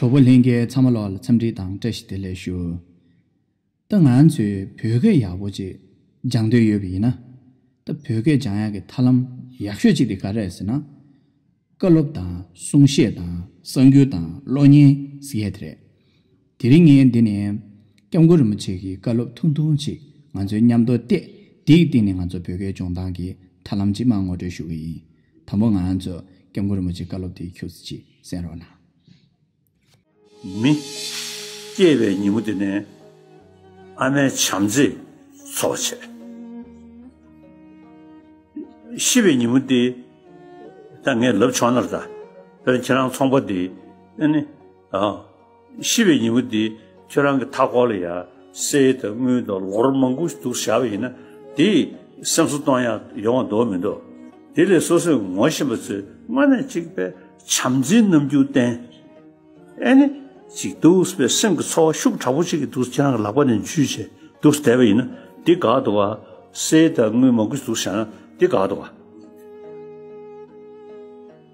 གྲོགས་པོ་ལྷན་རྒྱས་ཚང་མ་ལོགས་ལ་འཚམས་འདྲི་དང་བཀྲ་ཤིས་བདེ་ལེགས་ཞུ། ད་ང་ཚོས་བོད་སྐད་ཡག་པོ་ཅིག་སྦྱང་འདོད་ཡོད་པ་ཡིན་ན། ད་བོད་སྐད་སྦྱང་ཡག་གི་ཐར་ལམ་ཡག་ཤོས་ཅིག་དེ་ག་རེད་ཟེར་ན། བཀའ་སློབ་དང་གསུང་བཤད་དང་གསར་འགྱུར་དང་གློག་བརྙན་ཟེར་ཡས་དེ་རེད། དེ་རིང་ངས་འདི་ནས། སྐྱབས་མགོན་རིན་པོ་ཆེ་གི་བཀའ་སློབ་ཐུང་ཐུང་ཅིག་ང་ཚོའི་མཉམ་དུ་གཏད། དེའི་སྟེང་ནས་ང་ཚོ་བོད་སྐད་སྦྱོང་སྟངས་ཀྱི་ཐབས་ལམ་ཅིག་མ་ངོ་སྤྲོད་ཞུ་གི་ཡིན། དང་པོ་ང་ཚོས་སྐྱབས་མགོན་རིན་པོ་ཆེའི་བཀའ་སློབ་དེའི་ཁྱུགས་ཚིག་ཅིག་གསན་རོགས་གནང། མི། སྐྱེས་པའི་ཉིན་མོ་འདི་ནས། ཨ་མའི་བྱམས་བརྩེས་འཚོ་བ་བྱས། ཤི་བའི་ཉིན་མོ་འདི། ད་ངས་ལབ་ཆོག་ནར་ད། དཔེར་ན་ཁྱེད་རང་ཚོང་པ་འདི། ཤི་བའི་ཉིན་མོ་འདིའི་ཁྱོད་རང་གི་མཐའ་འཁོར་ལ་ཡང་སའི་དང་དངུལ་དང་ལོ་རོ་མང་པོ་འདུག་བཞག་པ་ཡིན་ན་དེ་སེམས་གསོ་གཏོང་ཡང་ཡོང་བ་འདོག་མི་འདོག་དེ་ལས་སོ་སོས་ངོ་བཞིན་པ་ཚོས་སྔ་ནས་གཅིག་པའི་བྱམས་བརྩེའི་རྣམ་འགྱུར་བསྟན། ཨེ་ནི། ཅིག་འདུག་པའི་སེམས་ཀྱི་ཚོར་བ་ཤུགས་དྲག་པོ་ཅིག་གིས་འདུག་ཁྱེད་རང་གི་ལག་པ་ནས་འཇུས་བྱས་འདུག་བསྡད་པ་ཡིན་ན་དེ་དགའ་འདུག་བ། སའི་དང་དངུལ་མང་པོ་འདུག་བཞག་ན་དེ་དགའ་འདུག་བ།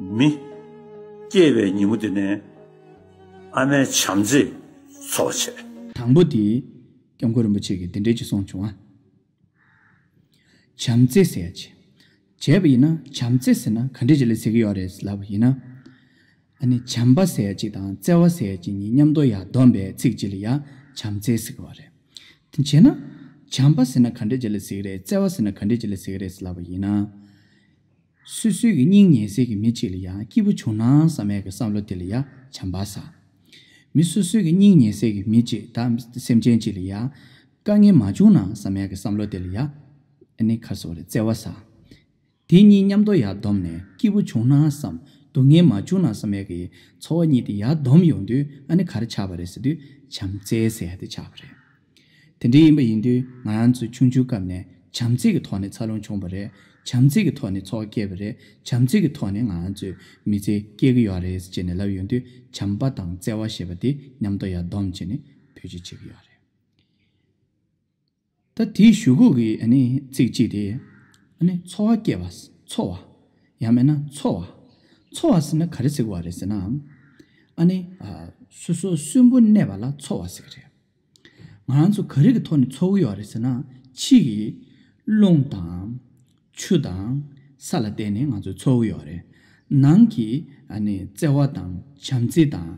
མི། སྐྱེས་པའི་ཉིན་མོ་དེ་ནས། ཨ་མའི་བྱམས་བརྩེས་འཚོ་བྱེད། དང་པོ་དེ། སྐྱབས་མགོན་རིན་པོ་ཆེ་གིས་འདི་འདྲའི་ཅི་གསུངས་བྱུང་ཨ། བྱམས་བརྩེ་ཟེར་ཡ་བྱས། བྱས་པ་ཡིན་ན་བྱམས་བརྩེ་ཟེར་ན་ག་འདྲས་ཅིག་ལ་ཟེར་གི་ཡོད་རེད་ལབ་པ་ཡིན་ན། ཨ་ནི་བྱམས་པ་ཟེར་ཅིག་དང་བརྩེ་བ་ཟེར་ཅིག་གཉིས་མཉམ་དོ་ཡ་བསྡོམས་པའི་ཚིག་ཅིག་ལ་ཡ་བྱམས་བརྩེ་ཟེར་གི་བ་རེད། དེ་བྱས་ན། བྱམས་པ་ཟེར་ན་ག་འདྲས་ཅིག་ལ་ཟེར་གི་རེད་བརྩེ་བ་ཟེར་ན་ག་འདྲས་ཅིག་ལ་ཟེར་གི་རེད་ལབ་པ་ཡིན་ན། སུས་སུས་ཀྱི་སྙིང་ཉེ་སྲས་ཀྱི་མི་གཅིག་ལ་ཡང་སྐྱིད་པོ་བྱུང་ན་བསམ་མེད་ཀྱི་བསམ་བློ་དེ་ལ་ཡང་བྱམས་པ་ཟ། མི་སོ་སོས་ཀྱི་སྙིང་ཉེ་སྲས་ཀྱི་མི་གཅིག་དང་སེམས་ཅན་གཅིག་ལ་ཡང་དཀའ་ངལ་མ་བྱུང་ན་བསམ་མེད་ཀྱི་བསམ་བློ་དེ་ལ་ཡང་བརྩེ་བ་ཟ། དེ་གཉིས་མཉམ་དུ་ཡར་བསྡོམས་ནས་སྐྱིད་པོ་བྱུང་ན་བསམ། སྡུག་བསྔལ་མ་བྱུང་ན་བསམ་མེད་ཀྱི་འཚོ་བ་གཉིས་དེ་ཡར་བསྡོམས་ཡོང་དུས་ཨ་ནི་ག་རེ་ཆགས་པ་རེད་ཟེར་དུས་བྱམས་བརྩེའི་སྲས་དེ་ཆགས་པ་རེད། དེ་འདྲའི་ཡིན་པ་ཡིན་དུས་ང་རང་ཚོ་ཆུང་ཆུང་སྐབས་ནས་བྱམས་བརྩེ་གི་ཐོག་ནས་འཚར་ལོངས་བྱུང་བ་རེད། བྱམས་བརྩེ་གི་ཐོག་ནས་ཚོགས་བསྐྱལ་བ་རེད། བྱམས་བརྩེ་གི་ཐོག་ནས་ང་རང་ཚོས་མི་ཚེ་སྐྱེལ་གི་ཡོད་རེད་ཅེས་ནས་ལབ་ཡོང་དུས་བྱམས་པ་དང་བརྩེ་བ་ཞེས་པ་དེ་ཉམས་རྟོགས་ཡར་བསྡོམས་བྱས་ནས་བོད་སྤྱི་བྱེད་ཀྱི་ཡོད་རེད། ད་དེའི་ཞུ་སྒོ་གི་ཚིག་གཅིག་དེ། འཚོ་བ་སྐྱེལ་བ། འཚོ་བ། ཡང་མེད་ན་འཚོ་བ། འཚོ་བ་ཟེར་ན་ག་རེ་ཟེར་གི་བ་རེད་ཟེར་ན། ཨ་ནི། སོ་སོ་གསོན་པོ་གནས་པ་ལ་འཚོ་བ་ཟེར་གི་རེད། ང་རང་ཚོ་ག་རེ་གི་ཐོག་ནས་འཚོ་གི་ཡོད་རེད་ཟེར་ན། ཕྱིས་ཀྱི། རླུང་དང། ཆུ་དང། ས་ལ་བརྟེན་ནས་ང་ཚོ་འཚོ་གི་ཡོད་རེད། ནང་གི། བརྩེ་བ་དང། བྱམས་བརྩེ་དང།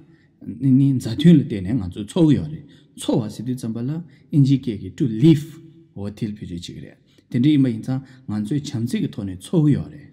མཛའ་མཐུན་ལ་བརྟེན་ནས་ང་ཚོ་འཚོ་གི་ཡོད་རེད། འཚོ་བ་ཟེར་དུས་ཙམ་པ་ལ་ཨིན་ཇིའི་སྐད་ཀྱིས to live། འོ་དེལ་བུ་རེད་ཅིག་རེད། དེ་འདྲ་ཡིན་པ་ཡིན་ཙང་ང་ཚོས་བྱམས་བརྩེ་གི་ཐོག་ནས་འཚོ་གི་ཡོད་རེད།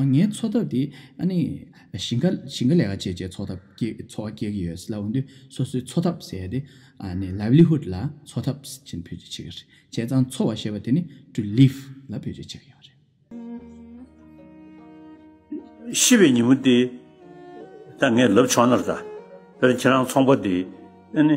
ངའི་འཚོ་ཐབས་དེ་ཨ་ནི། ཞིང་ཁ་ཞིང་ཁ་ལས་ཀ་བྱེད་བྱེད་འཚོ་ཐབས་སྐྱེལ་འཚོ་བ་སྐྱེལ་གྱི་ཡོད། སླ་བོ་འདི་སོ་སོའི་འཚོ་ཐབས་ཟེར་ཏེ། ཨ་ནི livelihood ལ་འཚོ་ཐབས་ཅན་བེད་སྤྱོད་བྱེད་ཀྱི་རེད། བྱས་ཙང་འཚོ་བ་ཞེས་པ་དེ་ནི to live ལ་བེད་སྤྱོད་བྱེད་ཀྱི་ཡོད་རེད། ཤི་བའི་ཉིན་མོ་དེ་ད་ངས་ལབ་ཆོག་ནར་ད། དཔེར་ན་ཁྱེད་རང་ཚོང་པ་དེ་ཨ་ནི།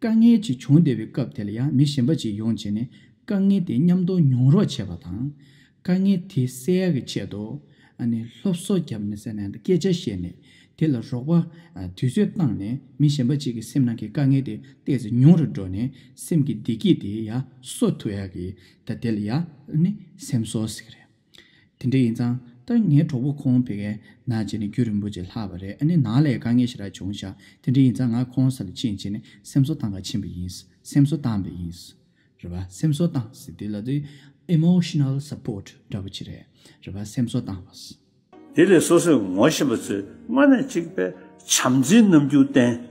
དཀའ་ངལ་ཅིག་བྱུང་བསྡད་པའི་སྐབས་དེ་ལ་ཡང་མི་གཞན་པ་ཅིག་ཡོང་བྱས་ནས་དཀའ་ངལ་དེ་མཉམ་གཏོང་མྱོང་རོགས་བྱས་པ་དང། དཀའ་ངལ་དེ་སེལ་ཡག་གི་ཆེད་དུ། སློབ་གསོ་བརྒྱབ་ནས་ཟེར་ནས་སྐད་ཆ་བཤད་ནས་དེ་ལ་རོགས་པ་དུས་ཚོད་བཏང་ནས་མི་གཞན་པ་ཅིག་གི་སེམས་ནང་གི་དཀའ་ངལ་དེ་བལྟས་ཚེ་ཉུང་རུ་འགྲོ་ནས་སེམས་ཀྱི་བདེ་སྐྱིད་དེ་ཡང་གསོ་ཐུབ་ཡག་གི་ད་དེ་ལ་ཡང་སེམས་གསོ་ཟེར་གི་རེད། དེ་འདྲ་ཡིན་ཙང་ལྟར་ངའི་གྲོགས་པོ་ཁོང་བོད་ཁའི་ནང་བྱས་ནས་རྒྱུད་རིང་པོ་ཅིག་ལྷག་པ་རེད་ཨ་ནི་ནང་ལས་དཀའ་ངལ་ཞིག་རག་བྱུང་ཤག་དེ་འདྲ་ཡིན་ཙང་ང་ཁོང་ས་ལ་ཕྱིན་རྗེས་ནས་སེམས་གསོ་བཏང་ག་ཕྱིན་པ་ཡིན་སེམས་གསོ་བཏང་པ་ཡིན། རེད་པ་སེམས་གསོ་བཏང་ཟེར་དེ་ལ་དེ Emotional Support འདྲ་པོ་ཅིག་རེད་རེད་པ་སེམས་གསོ་བཏང་བ། དེ་ལས་སོ་སོས་ངོ་ཤེས་པ་ཚོས་སྔ་ནས་གཅིག་པའི་བྱམས་བརྩེའི་རྣམ་འགྱུར་བསྟན།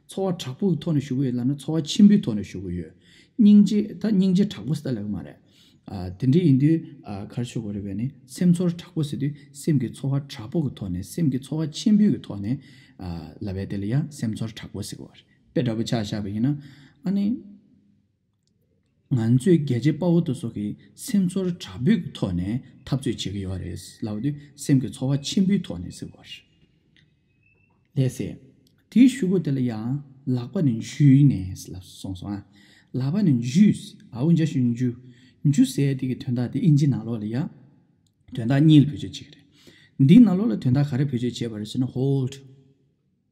འཚོ་བ་དྲག་པོའི་ཐོག་ནས་ཞུགས་ཀྱི་ཡོད་ལབ་ན་འཚོ་བ་ཆེན་པོའི་ཐོག་ནས་ཞུགས་ཀྱི་ཡོད། སྙིང་རྗེ་ད་སྙིང་རྗེ་དྲག་པོ་ཟེར་ཏེ་ལབ་ཀྱི་མ་རེད། དེ་འདྲ་ཡིན་དུས་གར་ཆོད་དགོས་རེད་བས་ནི་སེམས་ཚོར་དྲག་པོ་ཟེར་དུས་སེམས་ཀྱི་འཚོ་བ་དྲག་པོ་གི་ཐོག་ནས་སེམས་ཀྱི་འཚོ་བ་ཆེན་པོའི་གི་ཐོག་ནས་ལབ་བས་དེ་ལ་ཡང་སེམས་ཚོར་དྲག་པོ་ཟེར་གྱི་བ་རེད། དཔེ་འདྲ་པོ་ཆགས་བཞག་པ་ཡིན་ན་ཨ་ནི། ང་ཚོས་རྒྱལ་གཅེས་དཔའ་བོ་དེ་ཚོ་གི་སེམས་ཚོར་དྲག་པོའི་ཐོག་ནས་འཐབ་རྩོད་བྱེད་ཀྱི་ཡོད་རེད་ལབ་པ་དེ་སེམས་ཀྱི་ཚོར་བ་ཆེན་པོའི་ཐོག་ནས་ཟེར་བ་རེད། ལས་ཟེར། དེའི་ཤུགས་ཀོ་དེ་ལ་ཡང་ལག་པ་ནས་འཇུས་ནས་ལབ་སོང་སོང་ཨ། ལག་པ་ནས་འཇུས། ཨའུ་འཇའ་ཤུལ་འཇུ། འཇུ་ཟེར་དེ་གི་དོན་དག་དེ་ཨིན་ཇི་ནག་ལོག་ལ་ཡ། དོན་དག་གཉིས་ལ་བེད་སྤྱོད་བྱེད་ཀྱི་རེད། འདིའི་ནག་ལོག་ལ་དོན་དག་ག་རེ་བེད་སྤྱོད་བྱེད་པ་རེད་ཟེར་ན་ཧོལ།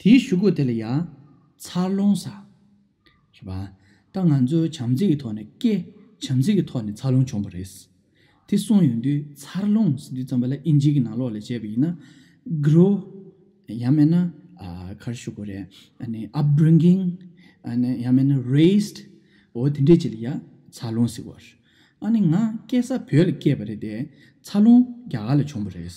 དེའི་བཞུགས་སྒོ་དེ་ལ་ཡང། འཚར་ལོངས་ས། ཞེས་པ། ད་ང་ཚོས་བྱམས་བརྩེ་གི་ཐོག་ནས་སྐད། བྱམས་བརྩེ་གི་ཐོག་ནས་འཚར་ལོངས་བྱུང་བ་རེད། དེ་གསུངས་ཡོང་དུས་འཚར་ལོངས་ཟེར་དུས་རྩམ་པ་ལ་ཨིན་ཇི་གི་ནང་ལོགས་ལས་བྱས་པ་ཡིན་ན། Grow། ཡང་མེད་ན། གར་བཞུགས་སྒོ་རེད། Upbringing། ཡང་མེད་ན Raised། འོ་དེ་འདྲས་བྱས་ལ་ཡང་འཚར་ལོངས་ཟེར་བར། ཨ་ནི་ང་སྐྱེས་ས་བོད་ལ་སྐྱེས་པ་རེད་དེ། འཚར་ལོངས་རྒྱ་གར་ལ་བྱུང་བ་རེད།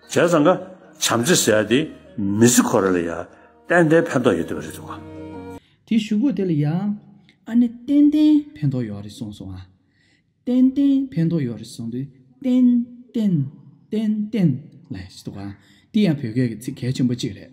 བྱས་ཙང་ཀ་བྱམས་བརྩེ་ཟེར་དེ་མི་ཟི་ཁོ་ར་ལ་ཡང་ཏན་ཏན་ཕན་ཐོགས་ཡོད་དེ་བ་རེད་དོ། དེ་ཞུ་གོ་དེ་ལ་ཡང་ཨ་ནི་ཏན་ཏན་ཕན་ཐོགས་ཡོད་རེད་གསུངས་སོང་ཨ། ཏན་ཏན་ཕན་ཐོགས་ཡོད་རེད་གསུངས་དུས་ཏན་ཏན་ཏན་ཏན་ལ་ཡང་ཞེས་དུ་གོ་ཨ། དེ་ཡང་བོད་སྐད་ཀྱི་ཚིག་གལ་ཆེན་པོ་གཅིག་རེད།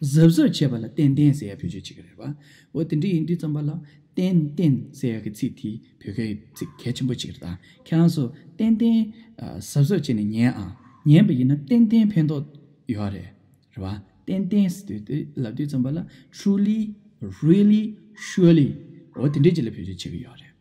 གཟབ་གཟབ་བྱས་པ་ལ་ཏན་ཏན་ཟེར་ཡག་བོད་ཆས་བྱེད་ཀྱི་རེད་བ། འོ་དེ་འདྲ་ཡིན་དུས་རྩམ་པ་ལ་ཏན་ཏན་ཟེར་ཡག་གི་ཚིག་དེ་བོད་སྐད་ཚིག་གལ་ཆེན་པོ་གཅིག་རེད་ད་ཁྱེད་རང་ཚོ་ཏན་ཏན་གཟབ་གཟབ་བྱས་ནས་ཉན་ཨང་ཉན་པ་ཡིན་ན་ཏན་ཏན་ཕན་ཐོགས་ཡོད་ཨ་རེད་རེད་བ། ཏན་ཏན་ཟེར་དུས་དེ་ལབ་དུས་རྩམ་པ་ལ truly really surely འོ་དེ་འདྲ་གཅིག་ལ་བོད་ཆས་བྱེད་ཀྱི་ཡོད་རེད།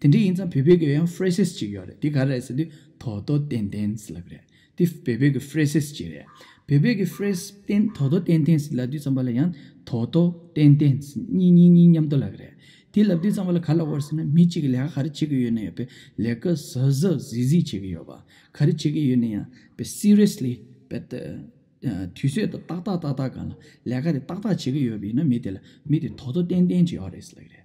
དེ་འདྲ་ཡིན་ཙང་བོད་སྤེལ་གྱི་ཡང phrases ཅིག་ཡོད་རེད་དེ་ག་རེད་ཟེར་དུས་དོ་དོ་ཏན་ཏན་ཟེར་ལབ་པ་རེད་དེ་བོད་སྤེལ་གྱི phrases ཅིག་རེད་བོད་སྤེལ་གྱི phrase ཏན་དོ་དོ་ཏན་ཏན་ཟེར་ལབ་དུས་ཙམ་པ་ལ་ཡང་དོ་དོ་ཏན་ཏན་གཉིས་གཉིས་གཉིས་མཉམ་དུ་ལབ་པ་རེད་དེ་ལབ་དུས་ཙམ་པ་ལ་ག་ལ་བོར་ཟེར་ན་མི་གཅིག་གིས་ལས་ཀ་ག་རེ་བྱེད་ཀྱི་ཡོད་ན་ཡང་པེ་ལས་ཀ་ཟ་ཟ་ཟིས་ཟིས་བྱེད་ཀྱི་ཡོད་པ་ག་རེ་བྱེད་ཀྱི་ཡོད་ན་ཡང་པེ seriously པེ་དུས་ཚོད་དང་ཏག་ཏག་ཏག་ཏག་གང་ལ་ལས་ཀ་རེ་ཏག་ཏག་བྱེད་ཀྱི་ཡོད་པ་ཡིན་ན་མི་དེ་ལ་མི་དེ་དོ་དོ་ཏན་ཏན་ཅིག་ཡོད་རེད་ཟེར་ལབ་པ་རེད།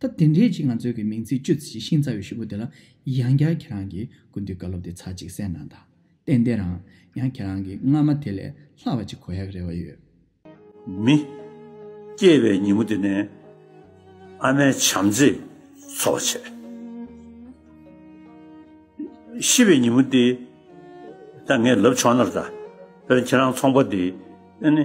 སྟབས་དེ་འདྲའི་ཅིག་ང་ཚོའི་གི་མིང་ཚིག་སྤྱོད་ཚེ་ཤིང་ཚ་བའི་ཤུབ་བུ་དེ་ལ་ཡང་བསྐྱར་ཁྱེད་རང་གིས་ཀུན་འདུས་བཀའ་སློབ་དེ་ཚར་ཅིག་གསན་གནང་དང་ཏན་ཏན་རང་ཡང་ཁྱེད་རང་གི་སྔ་མ་དེ་ལས་ལྷག་བ་ཅིག་གོ་ཡག་རེ་བ་ཡོད། མི། སྐྱེས་པའི་ཉིན་མོ་དེ་ནས་ཨ་མའི་བྱམས་བརྩེས་འཚོ་བ་བྱས། ཤི་བའི་ཉིན་མོ་དེ་ད་ངས་ལབ་ཆོག་ནར་ད་དཔེར་ན་ཁྱེད་རང་ཚོང་པ་དེ་ནི།